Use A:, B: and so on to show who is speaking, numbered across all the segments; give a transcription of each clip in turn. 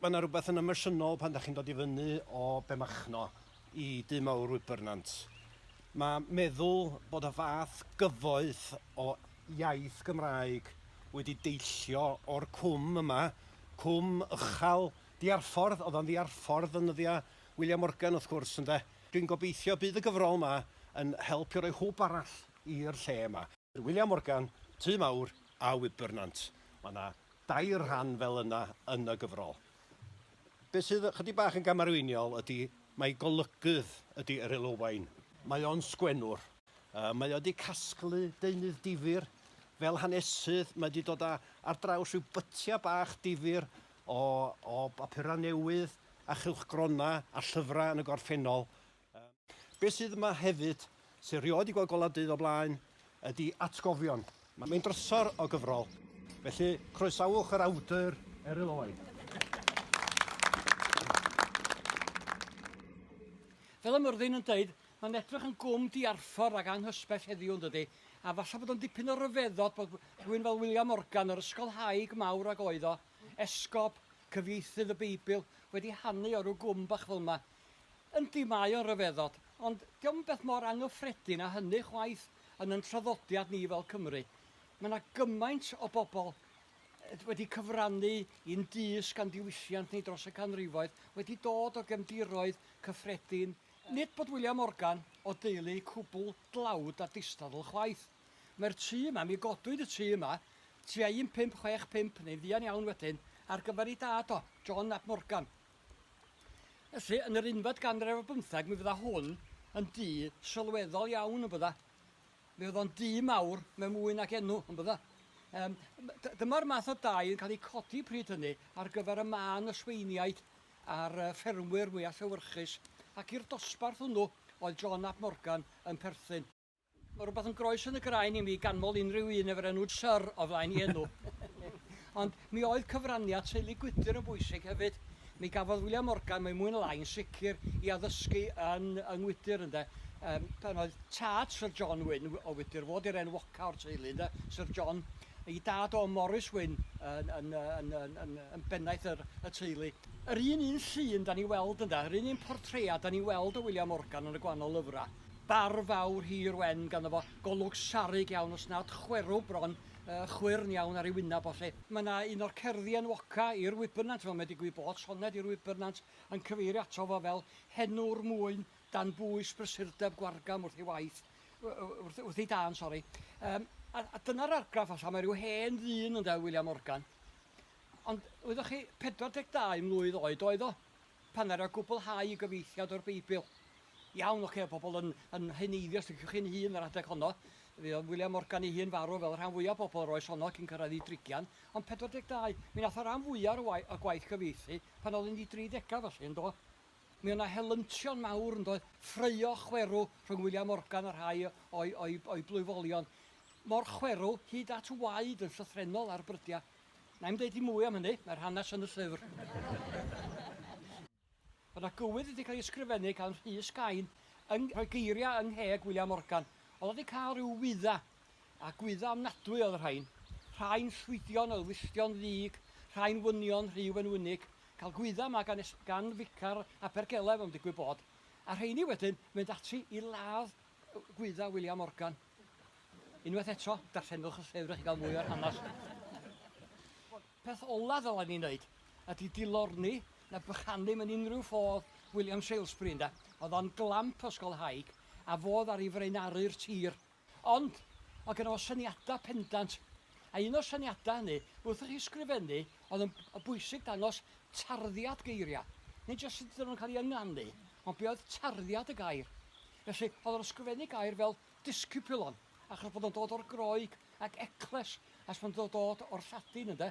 A: Mae yna rhywbeth yn emosiynol pan da chi'n dod i fyny o Bemachno i du mawr Wybernant. Mae meddwl bod y fath gyfoeth o iaith Gymraeg wedi deillio o'r cwm yma, cwm ychal diarffordd, oedd o'n ddiarffordd yn nyddiau William Morgan wrth gwrs ynde. Dwi'n gobeithio bydd y gyfrol yma yn help i roi hwb arall i'r lle yma. William Morgan, Tŷ Mawr a Wybernant. Mae yna dair rhan fel yna yn y gyfrol. Be sydd ychydig bach yn gamarweiniol ydy mai golygydd ydy Eryl Owain. Mae o'n sgwennwr. Yy mae o 'di casglu deunydd difyr fel hanesydd. Mae 'di dod a ar draws rhyw bytia bach difyr o o bapura newydd a chylchgrona a llyfra yn y gorffennol. Beth sydd yma hefyd, sy rioed 'di gweld golau dydd o blaen, ydi atgofion. Mae'n drysor o gyfrol, felly croesawch yr awdur, Eryl Owen.
B: Fel y myrddin yn deud, mae'n edrych yn gwm diarffordd ac anghysbell heddiw, yndydi? A falle bod o'n dipyn o ryfeddod bod rhywun fel William Morgan, yr ysgolhaig mawr ag oedd o, esgob, cyfieithydd y Beibl, wedi hanu o ryw gwm bach fel 'ma. Yndi, mae o'n ryfeddod, ond 'di o'm beth mor angyffredin â hynny chwaith yn yn traddodiad ni fel Cymry. Mae 'na gymaint o bobl wedi cyfrannu i'n dysg a'n diwylliant ni dros y canrifoedd, wedi dod o gefndiroedd cyffredin. Nid bod William Morgan o deulu cwbl dlawd a distadl chwaith. Mae'r tŷ yma, mi godwyd y tŷ yma tua 1565 neu'n fuan iawn wedyn, ar gyfer ei dad o, John ap Morgan, Felly, yn yr unfed ganrif ar bymtheg, mi fydda hwn yn du sylweddol iawn, yn bydda. Mi fydda o'n du mawr mewn mwy nag enw, yn bydda. Um, dyma'r math o dai yn cael ei codi pryd hynny ar gyfer y man ysweiniaid a'r ffermwyr mwyaf llewyrchus, ac i'r dosbarth hwnnw oedd John ap Morgan yn perthyn. Mae rhywbeth yn groes yn y graen i mi ganmol unrhyw un efo'r enw Sir o flaen i enw. Ond mi oedd cyfraniad teulu Gwydir yn bwysig hefyd. Mi gafodd William Morgan, mae mwy na lai yn sicr, i addysgu yn yng Ngwydir ynde. Um, pan oedd tad Sir John Wyn o Wydir, fod i'r enwoca o'r teulu ynde, Sir John, i dad o Morris Wyn yn, yn, yn, yn, yn, yn bennaeth yr, y teulu. Yr un un llun da ni weld ynda, yr un un portread da ni weld o William Morgan yn y gwahanol lyfrau. Bardd fawr hir wen ganddo fo, golwg sarug iawn os nad chwerw bron, yy chwyrn iawn ar ei wynab o 'lly. Mae 'na un o'r cerddi enwoca i'r wybyrnant fel mae digwydd bod, soned i'r wybyrnant, yn cyfeirio ato fo fel 'henwr mwyn dan bwys brysurdeb gwargam wrth ei waith, wrth wrth ei dân, sori. Yym a a dyna'r argraff falla, mae ryw hen ddyn ynde oedd William Morgan. Ond wyddoch chi, 42 mlwydd oed oedd o. Pan ara gwblhau y gyfeithiad o'r Beibl. Iawn, ocê, pobl yn, yn heneiddio, os liciwch chi'n hun, yr adeg honno. Fe oedd William Morgan ei hun farw, fel y rhan fwyaf o bobl yr oes honno, cyn cyrraedd ei drigian. Ond 42, mi nath y ran fwyaf o'r wai- o'r gwaith gyfieithu pan oedd yn ei dri degau, felly, yn do? Mi oedd 'na helyntion mawr, yn doedd? Ffraeo chwerw rhwng William Morgan a rhai o'i, o'i, o'i blwyfolion. Mor chwerw, hyd at waed yn llythrennol ar brydiau. Na i'm deud dim mwy am hynny, mae'r hanes yn y llyfr. Mae na gywydd wedi cael ei ysgrifennu gan Rhys Cain yn rhoi geiriau yng ngheg William Morgan. Oedd wedi cael rhyw wydda, a gwydda ofnadwy oedd y rhain. Rhain llwydion oedd wylltion ddig, rhain wynion rhyw enwynig, cael gwydda yma gan, gan ficar Abergelef am digwydd bod, a rheini wedyn mynd ati i ladd gwydda William Morgan. Unwaith eto, darllenwch y llyfr i gael mwy o'r hanes. Peth olaf ddylen ni wneud ydy dilorni na bychanu mewn unrhyw ffodd William Salesbury ynde. Oedd o'n glamp ysgolhaig a fodd ar ei frenaru'r tir. Ond, oedd gen o syniadau pendant. A un o'r syniadau hynny, wrth i chi sgrifennu, oedd yn bwysig dangos tarddiad geiriau. Nid jyst sut ydyn nhw'n cael ei ynganu, ond be oedd tarddiad y gair. Felly, oedd o'n ysgrifennu gair fel discipulon, achos bod o'n dod o'r Groeg, ac ekles, achos bod o'n dod o'r Lladin, ynde?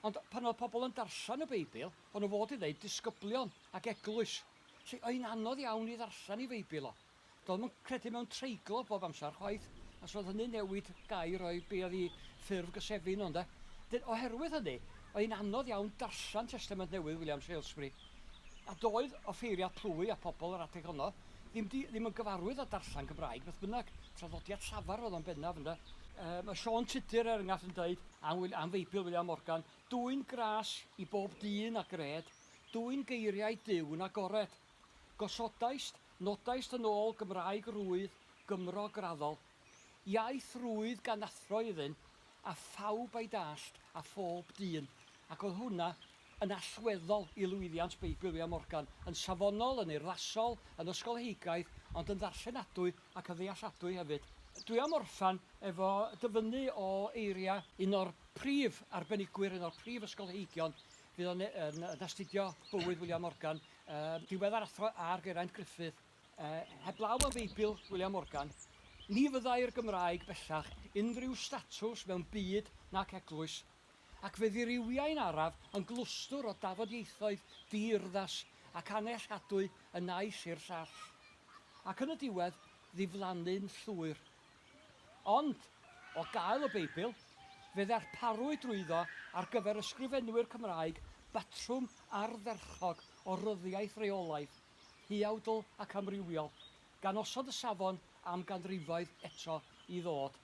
B: Ond pan oedd pobl yn darllen y Beibl, o'n nhw fod i ddeud disgyblion ac eglwys. Felly, oedd hi'n anodd iawn i ddarllen ei Feibl o. Doedd o'm yn credu mewn treiglo bob amser chwaith, achos oedd hynny'n newid gair o'i be oedd ei ffurf gysefin o, ynde? Wedyn, oherwydd hynny, oedd hi'n anodd iawn darllen Testament Newydd William Salesbury. A doedd offeiriad plwy a phobl yr adeg honno ddim 'di, ddim yn gyfarwydd â darllen Cymraeg, beth bynnag, traddodiad llafar oedd o'n bennaf, ynde. Yy, mae Siôn Tudur, er enghraifft, yn deud am Wil- am Feibl Wiliam Morgan, Dwyn gras i bob dyn a gred, dwyn geiriau Duw yn agored. Gosodaist, nodaist yn ôl Gymraeg rwydd, Gymro graddol. Iaith rwydd gan athro iddynt, a phawb a'i dallt, a phob dyn, ac oedd hwnna yn allweddol i lwyddiant Beibl Wiliam Morgan, yn safonol, yn urddasol, yn ysgolheigiaidd, ond yn ddarllenadwy ac yn ddealladwy hefyd. Dwi am orffen efo dyfynnu o eiriau un o'r prif arbenigwyr, un o'r prif ysgolheigion fuon yn astudio bywyd Wiliam Morgan, yy diweddar athro ar Geraint Gruffydd. Yy, heblaw am Feibil William Morgan, ni fyddai'r Gymraeg bellach unrhyw statws mewn byd nac eglwys, ac fe ddirywiai'n araf yn glwstwr o dafodieithoedd di-urddas ac annellhadwy y naill i'r llall, ac yn y diwedd ddiflannu'n llwyr. Ond, o gael y Beibl, fe ddarparwyd drwyddo ar gyfer ysgrifenwyr Cymraeg batrwm ardderchog o ryddiaith reolaidd, huawdl ac amrywiol, gan osod y safon am ganrifoedd eto i ddod.